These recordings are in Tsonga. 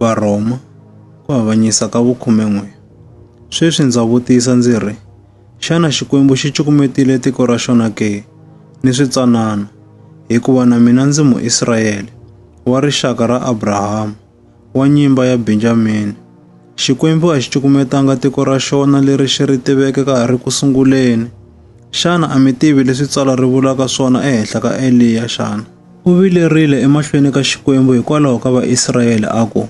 Varhoma, ku avanyisa ka vukhume-n'we. Sweswi ndza vutisa ndzi ri, xana Xikwembu xi cukumetile tiko ra xona ke? Ni switsanana, hikuva na mina ndzi Muisrayele, wa rixaka ra Abrahama, wa nyimba ya Benjamini. Xikwembu a xi cukumetanga tiko ra xona leri xi ri tiveke ka ha ri ku sunguleni. Xana a mi tivi leswi Tsalwa ri vulaka swona ehenhla ka Eliya xana? U vilerile emahlweni ka Xikwembu hikwalaho ka Vaisrayele a ku,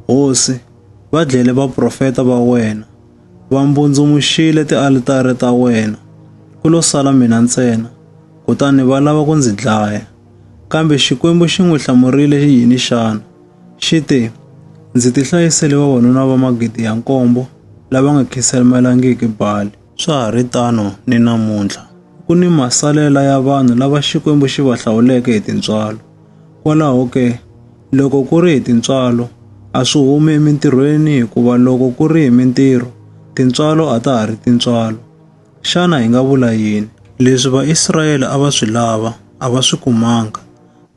Hosi, va dlele vaprofeta va wena, va mbundzumuxile tialitare ta wena, ku lo sala mina ntsena, kutani va lava ku ndzi dlaya. Kambe Xikwembu xi n'wi hlamurile yini xana? Xi te, Ndzi tihlayisele vavanuna va magidi ya nkombo lava nga khiselmelangiki Bali. Swa ha ri tano ni namuntlha, ku ni masalela ya vanhu lava Xikwembu xi va hlawuleke hi tintswalo. Kwalaho ke, loko ku ri hi tintswalo, a swi humi emintirhweni hikuva loko ku ri hi mintirho, tintswalo a ta ha ri tintswalo. Xana hi nga vula yini? Leswi Vaisrayele a va swi lava, a va swi kumanga,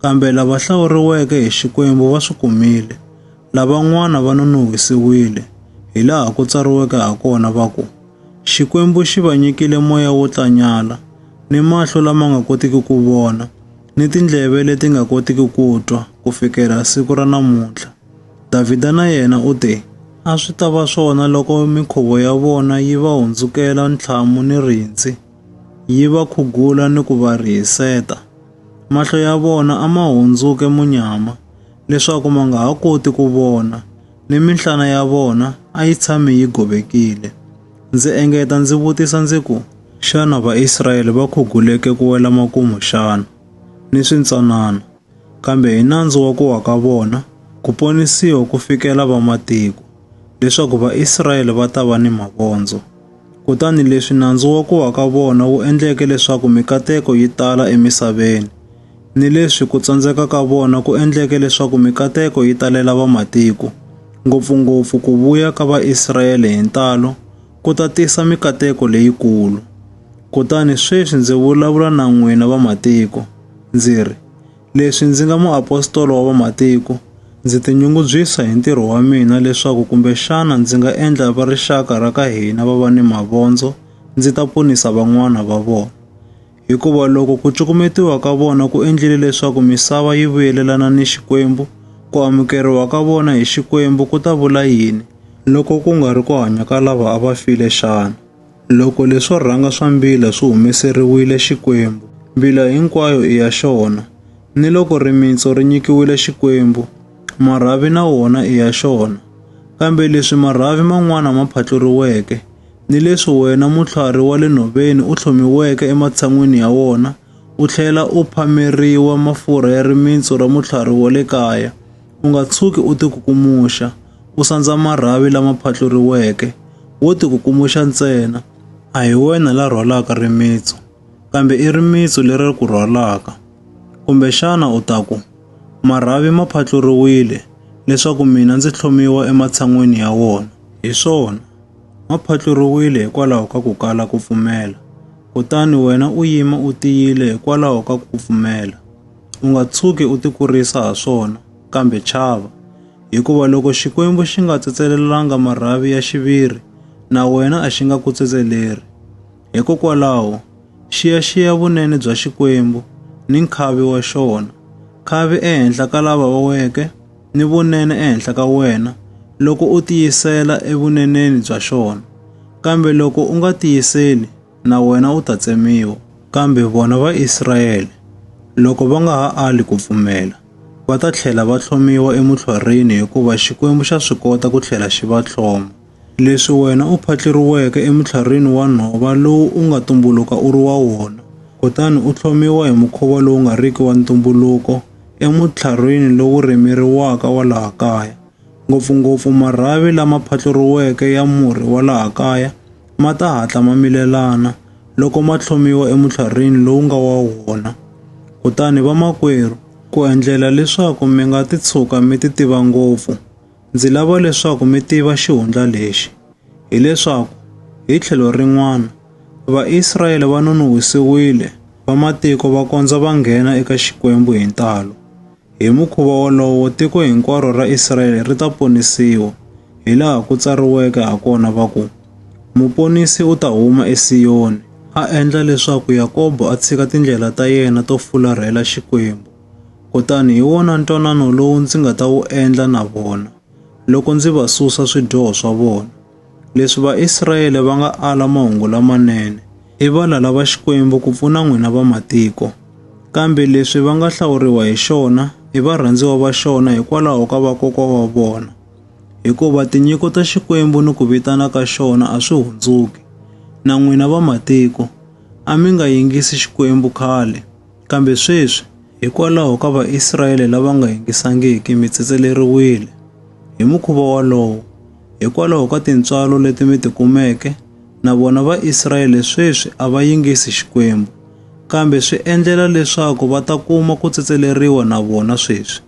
Kambe lava hlawuriweke hi Xikwembu va swi kumile. Lavan'wana va nonon'hwisiwile, hilaha ku tsariweke hakona va ku, Xikwembu xi va nyikile moya wo tlanyala, ni mahlo lama nga kotiki ku vona, ni tindleve leti nga kotiki ku twa, ku fikela siku ra namuntlha. Davhida na yena u te, A swi ta va swona loko mikhuvo ya vona yi va hundzukela ntlhamu ni rindzi, yi va khugula ni ku va rihiseta. Mahlo ya vona a ma hundzuke munyama leswaku ma nga ha koti ku vona, ni minhlana ya vona a yi tshame yi govekile. Ndzi engeta ndzi vutisa ndzi ku, Xana Vaisrayele va khuguleke ku wela makumu xana? Ni swintsanana, kambe hi nandzu wa ku wa ka vona ku ponisiwa ku fikela vamatiko, leswaku Vaisrayele va ta va ni mavondzo. Kutani leswi nandzu wa ku wa ka vona wu endleke leswaku mikateko yi tala emisaveni, ni leswi ku tsandzeka ka vona ku endleke leswaku mikateko yi talela vamatiko, ngopfu-ngopfu ku vuya ka Vaisrayele hi ntalo ku ta tisa mikateko leyikulu. Kutani sweswi ndzi vulavula na n'wina vamatiko, ndzi ri, Leswi ndzi nga muapostolo wa vamatiko, ndzi tinyungubyisa hi ntirho wa mina leswaku kumbexana ndzi nga endla va rixaka ra ka hina va va ni mavondzo ndzi ta ponisa van'wana va vona. Hikuva loko ku cukumetiwa ka vona ku endlile leswaku misava yi vuyelelana ni Xikwembu, ku amukeriwa ka vona hi Xikwembu ku ta vula yini loko ku nga ri ku hanya ka lava a va file xana? Loko leswo rhanga swa mbila swi humeseriwile Xikwembu, mbila hinkwayo i ya xona. Ni loko rimitsu ri nyikiwile Xikwembu, marhavi na wona i ya xona. Kambe leswi marhavi man'wana ma phatluriweke, ni leswi wena mutlhwari wa le nhoveni u tlhomiweke ematshan'wini ya wona u tlhela u phameriwa mafurha ya rimitsu ra mutlhwari wa le kaya, u nga tshuki u tikukumuxa, u sandza marhavi lama phatluriweke, wo tikukumuxa ntsena, a hi wena la rhwalaka rimitsu, kambe i rimitsu leri ri ku rhwalaka. Kumbexana u ta ku, Marhavi ma phatluriwile leswaku mina ndzi tlhomiwa ematshan'weni ya wona. Hi swona, ma phatluriwile hikwalaho ka ku kala ku pfumela, kutani wena u yima u tiyile hikwalaho ka ku pfumela. U nga tshuki u tikurisa ha swona, kambe chava, hikuva loko Xikwembu xi nga tsetselelanga marhavi ya xiviri, na wena a xi nga ku tsetseleri. Hikokwalaho, xiyaxiya vunene bya Xikwembu ni nkhavi wa xona, khavi ehenhla ka lava va weke ni vunene ehenhla ka wena, loko u tiyisela evuneneni bya xona. Kambe loko u nga tiyiseli, na wena u ta tsemiwa. Kambe vona Vaisrayele, loko va nga ha ali ku pfumela, va ta tlhela va tlhomiwa emutlhwarhini hikuva Xikwembu xa swi kota ku tlhela xi va tlhoma. Leswi wena u phatleriweke emutlhwarhini wa nhova lowu u nga tumbuluka u ri wa wona, kutani u tlhomiwa hi mukhuva lowu nga riki wa ntumbuluko emutlhwarhini lowu rimeriwaka wa laha kaya, ngopfungopfu marhavi lama phatluriweke ya murhi wa laha kaya, ma ta hatla ma milelana loko ma tlhomiwa emutlharhwini lowu nga wa wona. Kutani vamakwerhu, ku endlela leswaku mi nga ti tshuka mi ti tiva ngopfu, ndzi lava leswaku mi tiva xihundla lexi, hileswaku hi tlhelo rin'wana, Vaisrayele va nonohwisiwile, vamatiko va kondza va nghena eka Xikwembu hi ntalo. Hi mukhuva wolowo, tiko hinkwaro ra Israele ri ta ponisiwa, hilaha ku tsariweke ha kona va ku, Muponisi u ta huma eSiyoni, a endla leswaku Yakobo a tshika tindlela ta yena to fularhela Xikwembu. Kutani hi wona ntwanano lowu ndzi nga ta wu endla na vona, loko ndzi va susa swidyoho swa vona. Leswi Vaisrayele va nga ala mahungu lamanene i valala va Xikwembu ku pfuna n'wina va matiko. Kambe leswi va nga hlawuriwa hi xona i varhandziwa va xona hikwalaho ka vakokwa wa vona. Hikuva tinyiko ta Xikwembu ni ku vitana ka xona a swi hundzuki. Na n'wina va matiko, a mi nga yingisi Xikwembu khale. Kambe sweswi, hikwalaho ka Vaisrayele lava nga yingisangiki, mi tsetseleriwile. Hi mukhuva wolowo, hikwalaho ka tintswalo leti mi ti kumeke, na vona Vaisrayele sweswi a va yingisi Xikwembu, kambe swi endlela leswaku va ta kuma ku tsetseleriwa na vona sweswi.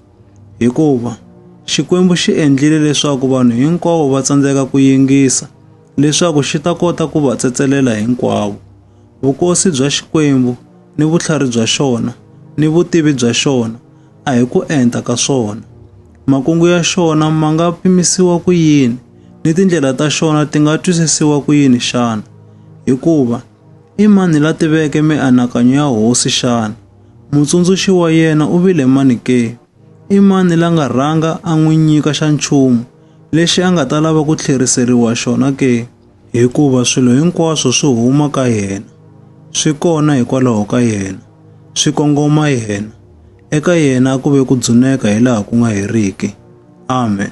Hikuva Xikwembu xi endlile leswaku vanhu hinkwavo va tsandzeka ku yingisa, leswaku xi ta kota ku va tsetselela hinkwavo. vukosi bya Xikwembu ni vutlhari bya xona ni vutivi bya xona a hi ku enta ka swona. Makungu ya xona ma nga pimisiwa ku yini ni tindlela ta xona ti nga twisisiwa ku yini xana? Hikuva i mani la tiveke mianakanyo ya hosi xana? Mutsundzuxi wa yena u vile mani ke? I mani la nga rhanga a n'wi nyika xa nchumu lexi a nga ta lava ku tlheriseriwa xona ke? Hikuva swilo hinkwaswo swi huma ka yena, swi kona hikwalaho ka yena, swi kongoma yena. Eka yena a ku ve ku dzuneka hi laha ku nga heriki. Amen.